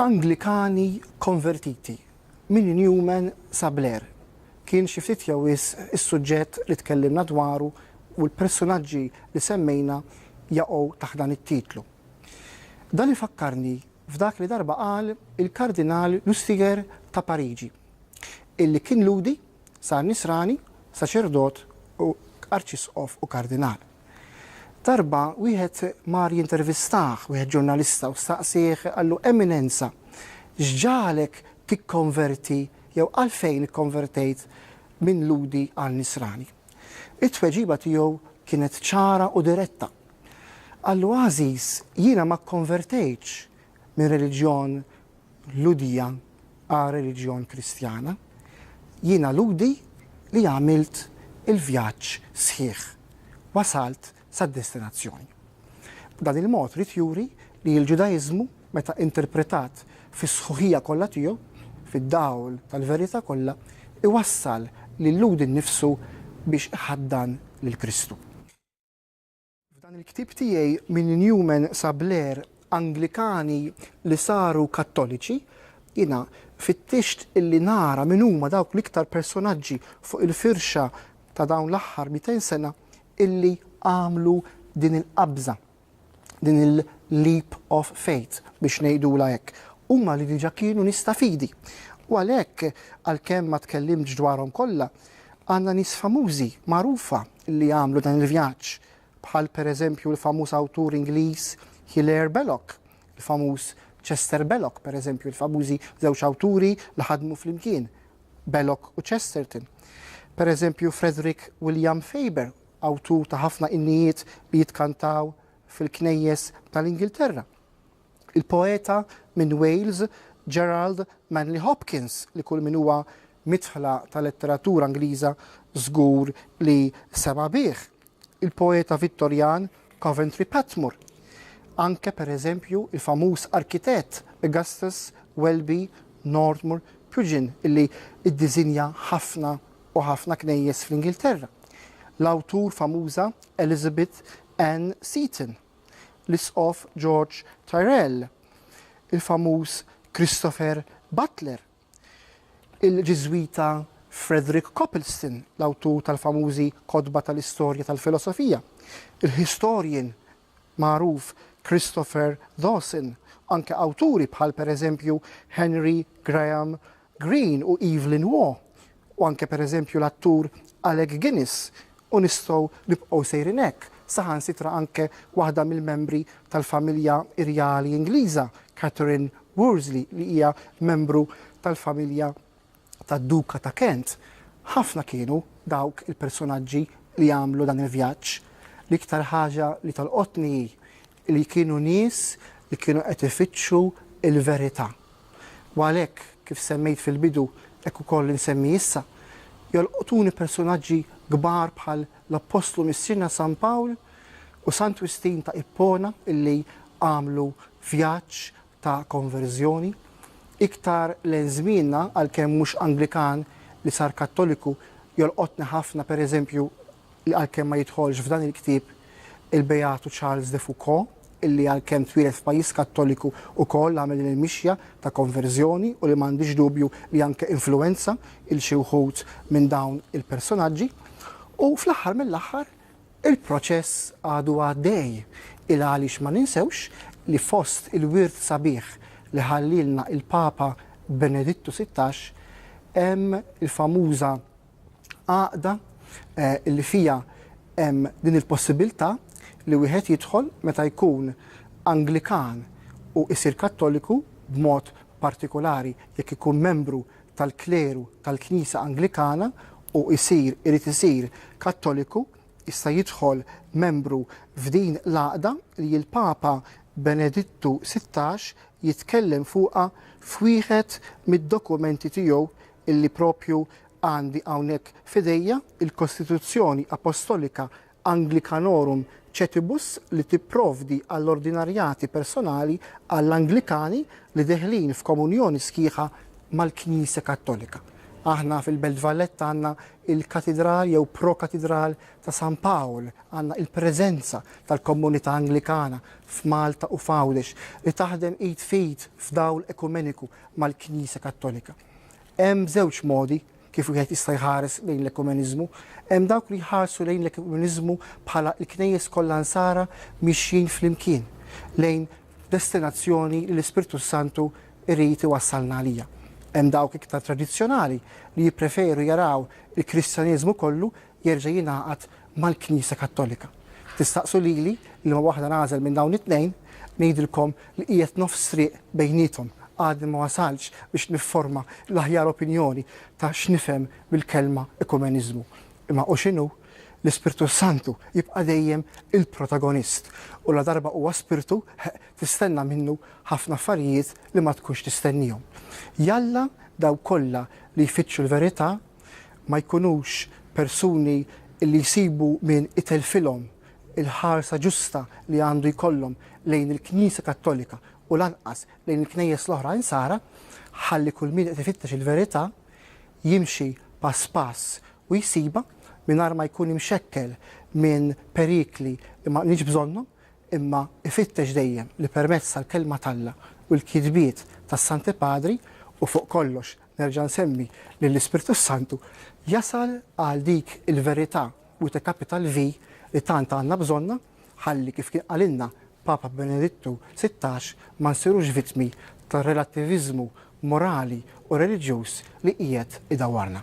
Anglikani konvertiti, minn Newman sa Blair, kien xi ftit jew wisq is-suġġett li tkellimna dwaru u l-persunaġġi li semmejna jaqgħu taħt dan it-titlu. Dan ifakkarni f'dak li darba qal il-Kardinal Lustiger ta' Pariġi, illi kien Lhudi, sar Nisrani, saċerdot, Arċisqof u Kardinal. Darba wieħed mar jintervistah, wieħed ġurnalista, u staqsieh, qallu, Eminenza, x'ġagħalek tikkonverti jew għalfejn ikkonvertejt minn Lhudi għal Nisrani? It-tweġiba tiegħu kienet ċara u diretta. Qallu, Għażiż, jiena ma kkonvertejtx minn reliġjon l-Hudija għal reliġjon Kristjana, jien għal-Hudi li għamilt il-vjaġġ sħiħ, wasalt sad-destinazzjoni. B'dan il-mod ried juri li l-Ġudaiżmu, meta interpretat fis-sħuħija kollha tiegħu, fid-dawl tal-verità kollha, iwassal lill-Lhudi nnifsu biex iħaddan lil Kristu. F'dan il-ktieb tiegħi Minn Newman sa Blair, Anglikani li saru Kattoliċi, jiena fittixt illi nara min huma dawk l-iktar personaġġi fuq il-firxa ta' dawn l-aħħar mitejn sena illi għamlu din il-qabża, din il-leap of faith biex ngħidulha hekk. Huma li diġà kienu nies ta' fidi. U għalhekk, għalkemm ma tkellimtx dwarhom kollha, għandna nies famużi, magħrufa, li għamlu dan il-vjaġġ, bħal pereżempju l-famuż awtur Ingliż Hilaire Belloc, il-famuż Chester Belloc, pereżempju, il-famużi żewġ awturi li ħadmu flimkien, Belloc u Chesterton. Pereżempju Frederick William Faber, awtur ta' ħafna innijiet li jitkantaw fil-knejjes tal-Ingilterra. Il-poeta minn Wales Gerald Manley Hopkins, li kull min huwa midħla tal-letteratura Ingliża żgur li sema' bih. Il-poeta Vittorjan Coventry Patmore. Anke, per eżempju, il-famuż arkitett Augustus Welby Northmour Pugin illi iddiżinja ħafna u ħafna knejjes fl-Ingilterra. L-awtur famuża Elizabeth Ann Seton. l-Isqof George Tyrrell, il-famuż Christopher Butler, il-Ġiżwita Frederick Copleston, l-awtur tal-famużi kotba tal-istorja tal-filosofija, il-historian magħruf Christopher Dawson, u anke awturi bħal pereżempju Henry Graham Greene u Evelyn Waugh, u anke pereżempju l-attur Alec Guinness u nistgħu nibqgħu sejrin hekk, saħansitra anke waħda mill-membri tal-familja irjali Ingliża, Catherine Worsley, li hija membru tal-familja tad-Duka ta' Kent. Ħafna kienu dawk il-persunaġġi li għamlu dan il-vjaġġ. L-iktar ħaġa li tolqotni hi li kienu nies li kienu qed ifittxu l-verità. U għalhekk, kif semmejt fil-bidu, hekk ukoll insemmi issa, jolqtuni persunaġġi kbar bħal l-Appostlu Missierna San Pawl u Sant Wistin ta' Ippona illi għamlu vjaġġ ta' konverżjoni. Iktar lejn żmienna, għalkemm mhux Anglikan li sar Kattoliku, jolqotni ħafna, pereżempju, li għalkemm ma jidħolx f'dan il-ktieb, il-Beatu Charles de Foucauld, illi għalkemm twieled f'pajjiż Kattoliku ukoll għamel din il-mixja ta' konverżjoni u li m'għandix dubju li anke influwenza 'l xi wħud minn dawn il-personaġġi. U fl-aħħar mill-aħħar, il-proċess għadu għaddej, il għaliex ma ninsewx li fost il-wirt sabiħ li ħallielna il-Papa Benedittu Sittax hemm il-famuża Għaqda li fiha hemm din il-possibilità li wieħed jidħol meta jkun Anglikan u jsir Kattoliku, b'mod partikolari jekk ikun membru tal-kleru tal-Knisja Anglikana u jsir, irid isir, Kattoliku, jista' jidħol membru f'din l-għaqda li l-Papa Benedittu Sittax jitkellem fuqha f'wieħed mid-dokumenti tiegħu illi proprju għandi hawnhekk f'idejja, il-Kostituzzjoni Apostolika Anglicanorum Cetibus li tipprovdi għall-ordinarjati personali għall-Anglikani li deħlin f'komunjoni sħiħa mal-Knisja Kattolika. Aħna fil-Belt Valletta għandna il-Katidral jew Pro-Katidral ta' San Pawl, għandna il-preżenza tal-Komunità Anglikana f'Malta u f'Għawdex li taħdem id f'id f'dawl ekumeniku mal-Knisja Kattolika. Hemm żewġ modi kif wieħed jista' jħares lejn l-ekumeniżmu. Hemm dawk li jħarsu lejn l-ekumeniżmu bħala l-Knejjes kollha Nsara mixjin flimkien lejn destinazzjoni li l-Ispirtu s-Santu jrid iwassalna għaliha. Hemm dawk iktar tradizzjonali li jippreferu jaraw il-Kristjaneżmu kollu jerġa' jingħaqad mal-Knisja Kattolika. Tistaqsu lili liema waħda nagħżel minn dawn it-tnejn, ngħidilkom li qiegħed nofs triq bejniethom, għadni ma wasaltx biex nifforma l-aħjar opinjoni ta' x'nifhem bil-kelma ekumeniżmu. Imma hu x'inhu, l-Ispirtu s-Santu jibqa' dejjem il-protagonist u ladarba huwa Spirtu, heq, tistenna minnu ħafna affarijiet li ma tkunx tistennihom. Jalla dawk kollha li jfittxu l-verità ma jkunux persuni li jsibu min itellfilhom il-ħarsa ġusta li għandu jkollhom lejn il-Knisja Kattolika u lanqas lejn il-Knejjes l-oħra Insara, ħalli kull min qed ifittex il-verità jimxi pass pass u jsibha mingħajr ma jkun imxekkel minn perikli li ma qniex bżonnhom imma ifittex dejjem li permezz tal-Kelma t'Alla u l-kitbiet tas-Santi Padri u fuq kollox Nerġa' nsemmi li l-Ispirtu s-Santu jasal għal dik il-verità with a capital V li tant għandna bżonnha ħalli kif kien qalilna Papa Benedittu sittax ma nsirux vittmi tar-relattiviżmu morali u reliġjuż li qiegħed idawwarna.